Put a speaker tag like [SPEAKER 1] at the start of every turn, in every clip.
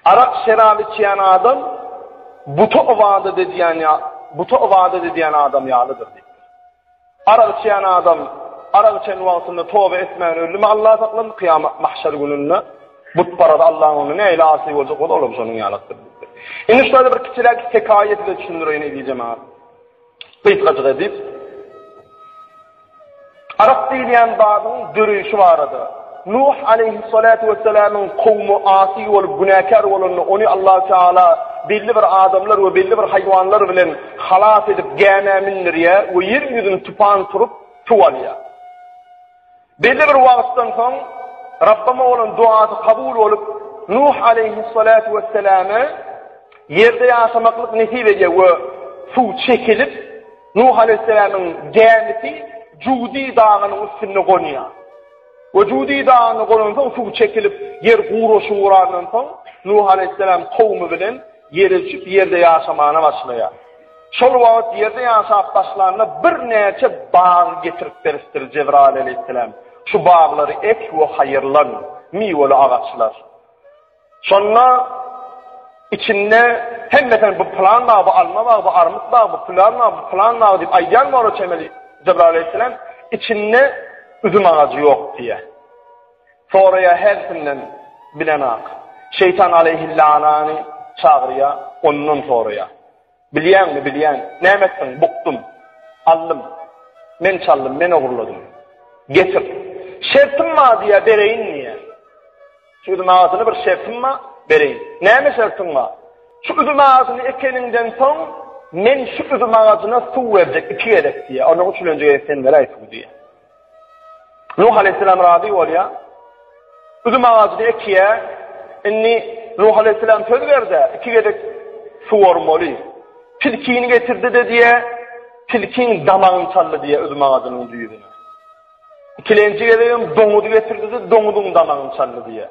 [SPEAKER 1] Arak şerap içýän adam buta ybadat edýän ýa buta ybadat edýän adam ýalydyr diýipdir. Arak içýän adam arak içen wagtynda toba etmän öldümi Allah saklasyn kyýamat mahşer gününde butparada Allahyň öňünde nähili asy boljak bolsa olam şonuň ýalydyr diýipdir. Indi şularda bir kiçiräk hekaýa size düşündireýin eziz jemaat. Gysgajyk edip, Arak diýilýän zadyň döreýşi barada, Nuh aleýhyssalatu wessalamyň kowumy asy bolup günäkär bolanda ony Allahu Teala belli bir adamlar we belli bir haýwanlar bilen halas edip gämä mindirýär we ýer ýüzüni tupan turup suw alýar. Belli bir wagtdan soň Rabbama bolan duasy kabul bolup, Nuh aleýhissalatu wesselama ýerde ýaşamaklyk nesip edýär we suw çekilip, Nuh aleýhissalamyň gämisi Judi dagynyň üstünde gonýar. We Judi dagyna gonansoň suw çekilip, ýer guraşyp urandan soň, Nuh aleýhissalam kowumy bilen Ýere düşüp, ýerde ýaşamana başlaýar. Şol wagt ýerde ýaşap başlanda birnäçe bag getirip beripdir Jebraýyl aleýhissalam. Şu baglary ek we haýyrlan, miweli agaçlar. Şonda içinde hemmesini bu plan bag, bu alma bag, bu armyt bag, bu plan bag, bu plan bag diýip aýdýan bolar çemeli Jebraýyl aleýhissalam, içinde üzüm agajy ýok diýýär. Soraýar hersinden bilenak. Şeýtan aleýhillanany çagyrýar, ondan soraýar. Bilýäňmi, bilýän. Näme etdiň? Bukdum. Aldym. Men çaldym, men ogurladym. Getir. Şertim bar diýýär, bereýin diýýär. Şu üzüm agasyny bir şertim bar, bereýin. Näme şertiň bar? Şu üzüm agasyny ekeniňden soň, men şu üzüm agasyna suw berjek iki gezek diýýär. Onuň üçin öňje gezek sen beräý suw diýýär. Nuh aleýhissalam razy bolýar. Üzüm agajyny ekýär. Indi Nuh aleýhissalam söz berdi, iki gezek suwarmaly. Tilkini getirdi-de diýe, tilkiň damagyny çaldy diýe üzüm agajynyň düýbüne. Ikilenji gezek hem doňuzy getirdi-de, doňuzyň damagyny çaldy diýe.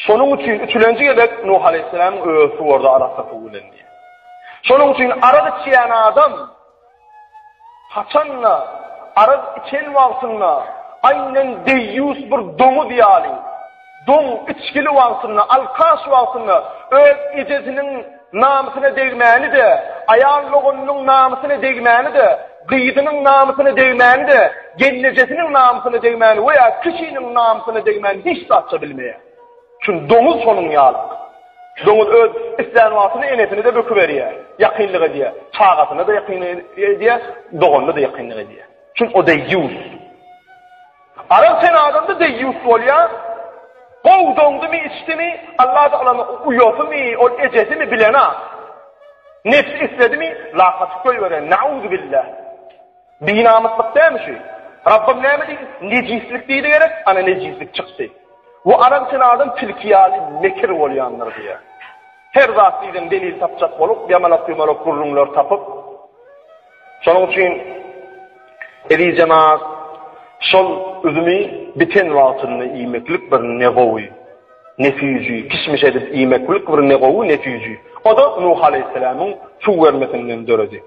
[SPEAKER 1] Şonuň üçin üçülenji gezek Nuh aleýhissalam öz suwardy arasy bilen diýe. Şonuň üçin arak içýän adam Haçan-da, arak içen wagtynda aýnan deýýus bir doňuz ýaly, doň, içgili wagtynda, alkaş wagtynda öz ejesiniň namysyna degmäni-de, aýal doganynyň namysyna degmäni-de, gyzynyň namysyna degmäni-de, gelnejesiniň namysyna degmäni we ýa kişiniň namysyna degmäni hiç zatça bilmeýär. Çünki doňuz şonuň ýaly. Doňuz öz islän wagtyny enesine-de böküberýär, ýakynlyk edýär, çagasyna-da ýakynlyk edýär, doganyna-da ýakynlyk edýär. Çünki o deýýus. Arap sen adamda deýýus bolýar. Gowy doňdumy, içdimi, Alla tagalany uýasymy, ol ejesimi bilenok. Nebsi isledimi, lakaty goýberen, nauzubilla. Binamyslyk dämi şu? Rabbym näme diýdi? Nejislik diýdi gerek, ana nejislik çykdy. Bu adam sen adam tilki ýaly mekir bolýandyr diýýär. Her zat diýseň delil tapjak bolup, ýamalak-ýumalak gürrüňler tapyp. Şonuň üçin eziz jemaat, şol üzümi biten wagtynda iýmeklik bir ne gowy, ne süýji, kişmiş edip iýmeklik bir ne gowy, ne süýji. O-da Nuh alaýhyssalamyň suw bermesinden döredi.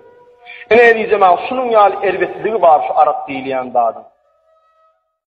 [SPEAKER 1] Ine ezizem-ä şunuň ýaly erbetligi bar şu arak diýilýän zadyň.